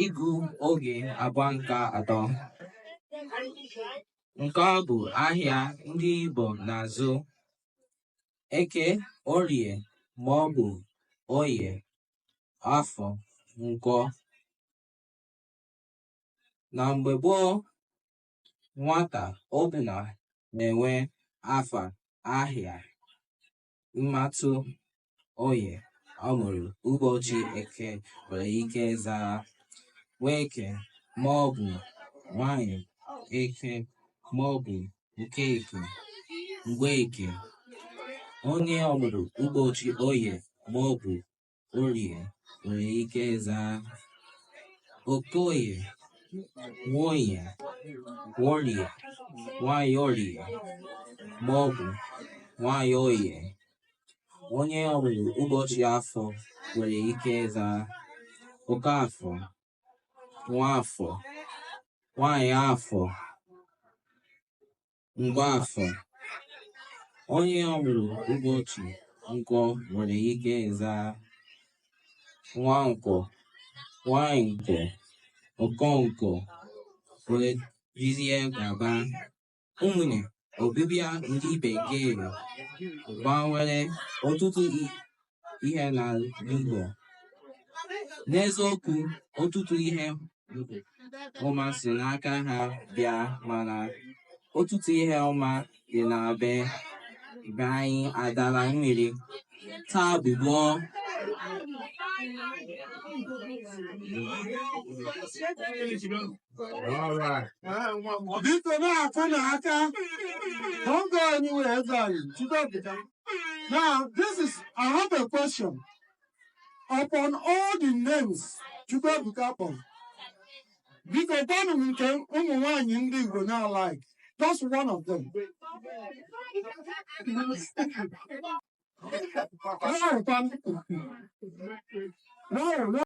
ịgụ oge agba nke atọ. Nke ọ bụ ahịa ndị Igbo na-azụ Eke, Orie ma ọ bụ Oye, Afọ, Nkwọ. Na mgbe gboo, nwata ọbụla na-enwe afa ahịa. ịma atụ onye ọ mụrụ ụbọchị eke nwere ike zaa Nweke ma ọ bụ nwanyị eke ma ọ bụ nke eke Mgbeke onye ọ mụrụ ụbọchị Oye ma ọ bụ Orie nwere ike ịza Okoye, Nwoye, Nworie, Nwaanyị Orie ma ọ bụ Nwaanyị Oye. Onye ọ mụrụ ụbọchị afọ nwere ike ịza Okafọ, Nwafọ, Nwaanyị afọ. Mgbafọ, Onye ọ mụrụ ụbọchị nkwọ nwere ike ịza Nwankwọ, Nwaanyị nkwọ, Okonkwọ wee jizie gaba. Ụmụnne, Ọbịbịa ndị Bekee gbanwere ọtụtụ ihe n'Igbo n'eziokwu ọtụtụ ihe ọma si n'aka ha bịa mana ọtụtụ ihe ọma dị na be be anyị adala mmiri taa bụ gboo Biko na-afụ na aka, ọ ga-anyị wee zọrọ, Chukwu Now, this is, I have a question. Upon all the names Chukwuebuka kpọrọ, biko gwanụ m nke ụmụ nwaanyị ndị Igbo na-alike. Just one of them. No, no, no.